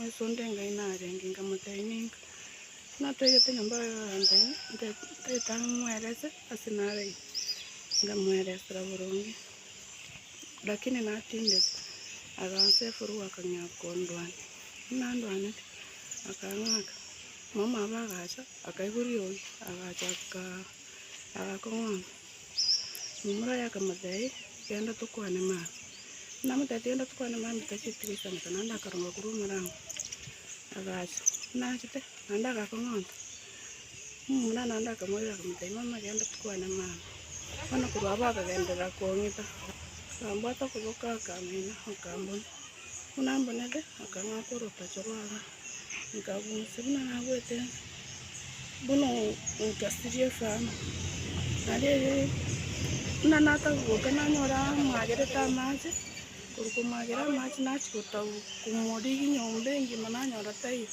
Yeso onde Ngai narenge, nkamotebia, Ninka natwegete nyomba ya Yohana ntaete ang'e moerese ase naraire. Nkamoeresera boronge, lakini natindete. Agansa efurugu akang'ea kondwania. Nandwanete, akang'aka. Omomaba agacha, akaigwa riogi, agacha, agakong'wana. Omomura oye akamotebia, Genda tokwane mambia. Namotebia, Genda tokwane mambia tacheti goisaneka naende akaronga korwa omorango. Agacha. Nachete, naende agakong'onta. Omomura naende akamoira akamotebia, Mama, genda tokwane mambia. Bono korwa abwo akagenderera kong'ita. Akambwata okoboko akamina, akambuna. Buna mbunete, akang'aka orotacho rw'aka. Nkagusia buna nagwete bono nkasiria efamu. Naende buna natagoka nanyora amagerete amache, korwa komagera amache nachia gotaboka komorigia nyomba engima nanyora taiyo.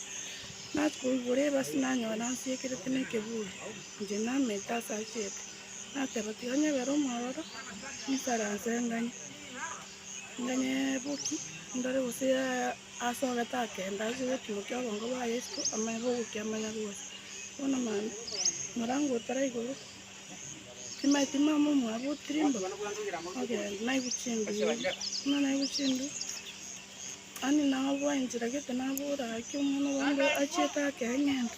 Nachia koigora ebasi nanyora nasiekerete na ekeburi, inche namenta ase achete. Nateba tiga nyebere omwororo nikaranse nganye, nganye boki ndore gose yaya. Ase ogete akenda ase egetunwa ki'obongo bwa Yeso amaiga ogokia amanyaruari. Bono mambia, morangotera igoro, timai timai amo omwabo otirimba, ogenda, naibu chimbe ibere, buna naibu chimbe, yaani naboa enchera gete nabora gaki omwana o banto achiete ake eng'ende.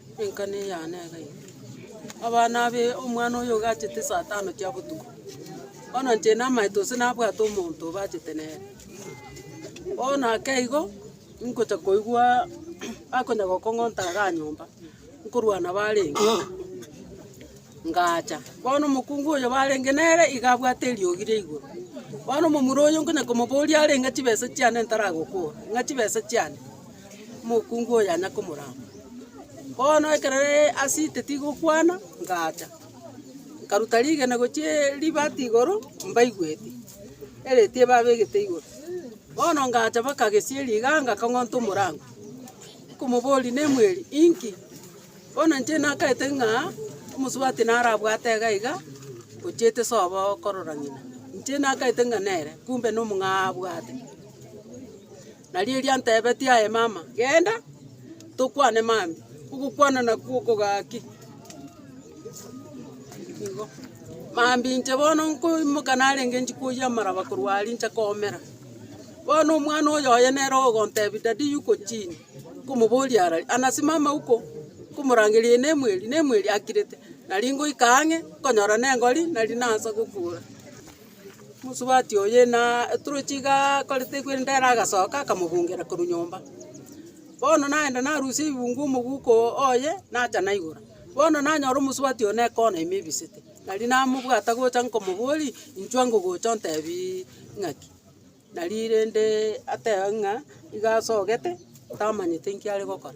Enkana eyao nega eye, abana abe omwana oyo ogachete saa tano chia botuko, bono inche namaete gose nabwate omonto obachete nere. Bono ake igo, nkocha koigwa bakonya gokong'ota iga nyomba, nkorwa nabo arenge, ngacha. Bono omokungu oyo barenge nere iga abwate eriogi ria igoro. Bono omomura oyo nkonya komoboria arenge chibesa chiane ntaragokora, ng'a chibesa chiane. Omokungu oyo yanya komorama. Bono ekero asinte tigokwana, ngacha, nkaruta rigena gochie ribati igoro, mbaigweti, ereti ebabegete igoro. Bono ngacha baka gesieri iga ngakang'onta omorango, nkomoboria nemweri inki? Bono inche nakaete ng'a omosubati narabwate iga iga, ochiete sobo korora ng'ina. Inche nakaete ng'a nere, kumbe nomong'aa abwate. Nario riantebetie, Aye mama, genda, tokwane mambia. Ogokwana nakwo okogaki. Igo. Mambia inche bono nkoimoka narenge nchikoyia amaraba korwa aria inche koomera. Bono omwana oyo oye nere ogontebia, Daddy yuko chini? Nkomoboria ara ri, Anasimama huko. Nkomorangeria, Ee nemweri, nemweri. Akirete. Naria ngoika ang'e, nkonyora nengori, nari naansa gokura. Mosubati oye na eturuchi iga akorete ekwende ere agasoka akamobungera korwa nyomba. Bono nagenda narusia ebibungo omoguko oye nacha naigora. Bono nanyora omosubati oye ne ekona ime ebisete. Nari namobwata gocha nkomobori inchwa ngogocha ontebi ng'aki. Nari rende atebe ng'a iga asogete tamanyete inki are gokora.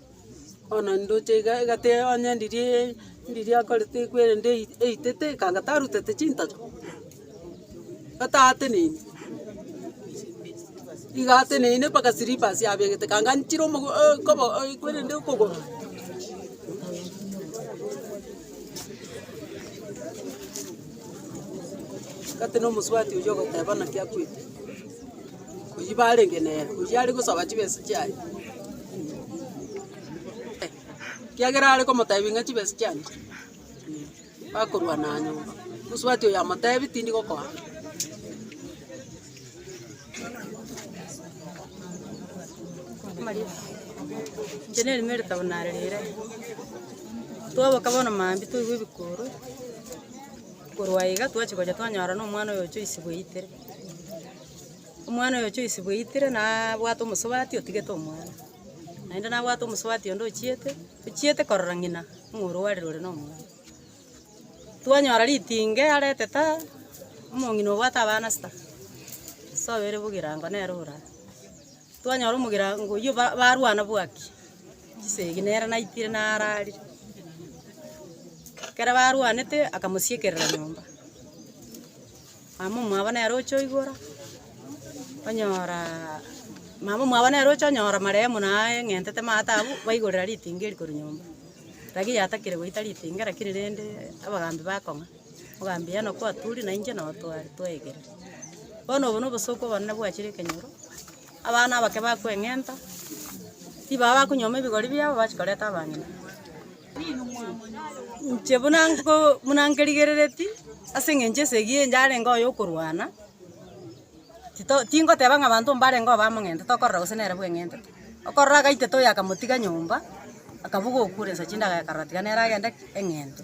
Bono ndoche iga egati onye ndirie ndirie akorete ekwerende ei- eitete ekanga tarutete chintacho, gatateneine, iga ateneine mpaka slippers abegete kanga anchire omogo o- kobo ekwerende okogoro. Gatene omosubati oyio ogoteba naki akwete. Oyio barenge nere, oyio are gosaba chibesa chiaye, ekiagera are komotebia ng'a chibesa chiane chi, bakorwana nyomba. Mosubati oyo amotebi tindi gokoa. Inche na erimo eritabo nare rire, twaboka bono maambia twaigwa ebikuru, korwa iga twachia gocha twanyora na omwana oyo ocha oisiwa eitere. Omwana oyo ochoisibwa eitire nabwate omosubati otigete omwana, naende nabwate omosubati onde ochiete, ochiete korora ng'ina ng'a oro arire ore nomwana. Twanyora ritinge arete ta, omong'ina obwate abana sita, sobo ere bogirango nere ora. Twanyora omogirango oyio ba- barwana bwaki chisegi nere naitire nararire. Ekero barwanete akamosiekerera nyomba. Mama omwabo nere oche oigora, onyora mama omwabo nere oche onyora marehemu na aye eng'entete maate abwo, baigorera ritinga eri korwa nyomba. Rirorio yatakire goita ritinga lakini rende abagambi bakong'a, mogambi eno kwaturi na inche noo twari twaegereti. Bono obo na obosooku obonene bwachire ekenyoro. Abana abake bakweng'enta, tibaba bakonyuoma ebigori biabo bache koreta abang'ina. Inche buna nko buna nkerigerereti ase eng'encho esegi eye yarenge oye okorwana, tito tingoteba ng'a abanto mbarengeo abamong'enta tokorora gose nere bweng'entete. Okorora agaitete oyo akamotiga nyomba, akabuga okure nsa chindagera akarora tiga nere agende eng'ente.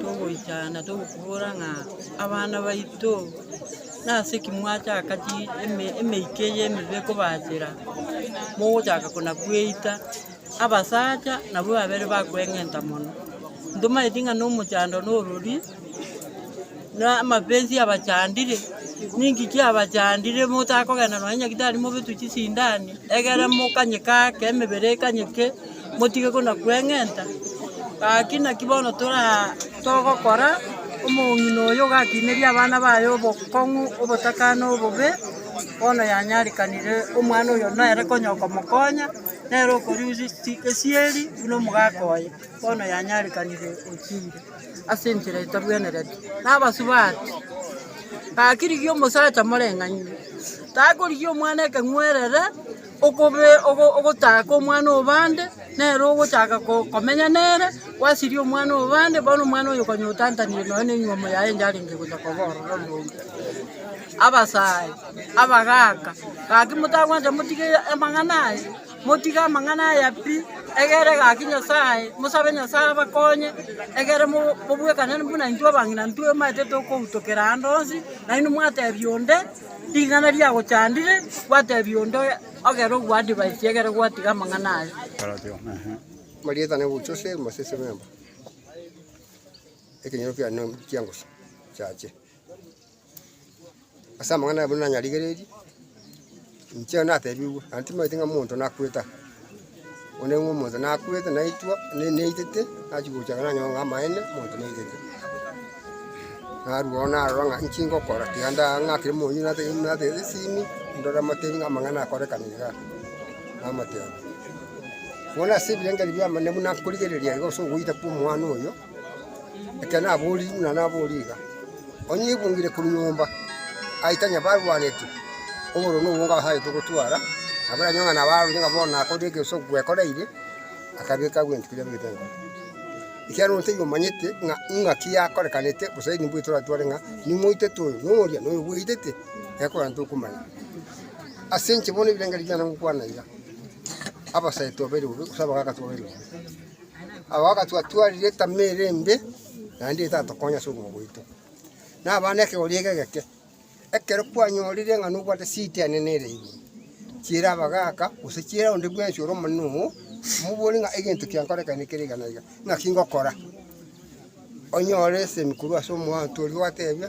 togoika na togokobora ng'a abana baito nase ki mwachaka chi eme- emeika eye emebe ekobachera, mogochaka konakweita, abasacha nabwo babere bakweng'enta mono. Ntomanyeti ng'a na omochando na orori, na amapenzi abachandire, ninki kiabachandire motakogenda nonye nyagetari mobetwe chisindani, egere mokanye kake, emebere ekanyeke. motige konakweng'enta, gaki naki bono toraa togokora, omong'ina oyo ogakineria abana baye obokong'u, obotakano, obobe, bono yanyarekanire omwana oyo nere konya okomokonya, nere okoriusi si esieri buna omogaka oye, bono yanyarekanire ochire ase enchera etabwenereti, na abasubati. Gaki rigia omosacha moreng'anire, takorigia omwana ekeng'werere. Okobe ogo ogochaka omwana o bande, nere ogochaka ko komenya nere, gwasiria omwana o bande, bono omwana oyo konyotantanire nonya ne enywomo yaye enye arenge gocha koba ororo ororombe. Abasae, abagaka, gaki motagwanja motige amang'ana aya, motige amang'ana aya pi, egere gaki Nyasaye, mosabe Nyasaye abakonye, egere mo mobwekane buna intwe abang'ina intwe manyete tokoutokera ande onsi, nainwe mwatebia onde. Ring'ana riagochandire, gwateebia onde oye, Ogere ogwaa divaisi, egere gwatiga amang'ana aye. Marieta na Ebucha ase embasese b'emba, ekenyoro kiane na chiangusu chiache. Ase amang'ana aye buna nanyarigereiri, inche nateebigwe, naende timanyeti ng'a monto nakwete aa. Onde ng'a omonto nakwete naitwa, naitete, nachia gocha iga nanyore ng'a amaene, omonto naitete. Narwo bono narora ng'a inki ngokora, tiga ndang'akire moni natebe natebete esimi, ndore motebi ng'a amang'ana akorekana igaa, namotebia. Bono ase ebirengererio bi'amanene buna nkorigereria iga ase ogoita kw'omwana oyo. Ekero naboorire buna nabooria iga, onye aibungire korwa nyomba, aitane abarwaneti, obororo na obonge abasaete ogotwara, nabo aranyore ng'a nabo arorire ng'a bono nakorire ekero gose gwekoreire, akabeka agwo ebinto biria abegete nkoro. Ekiagera onde taiyo omanyete ng'a ing'aki yakorekanete gose nimbwao toratware ng'a nimoitete oyo na oria na oyo bwaitete, iga ekogera ntokomanya. Ase inche bono ebirengererio biane ngokwana iga, abasae tobairobe gose abagaaka tobairobe. Agwo agatwatwariria etama ere embe, naende etatokonya ase obogima bwaito. Naba nekegori eke egeke, ekero kwanyorire ng'a nobwate city enene ere igoro, chiera abagaka, gose chiera onde bwensi ore omonene oo, omobori ng'a egento kiankorekane kere iga na iga, naki ngokora? Onyore esemi korwa ase omoanto oria gwatebia.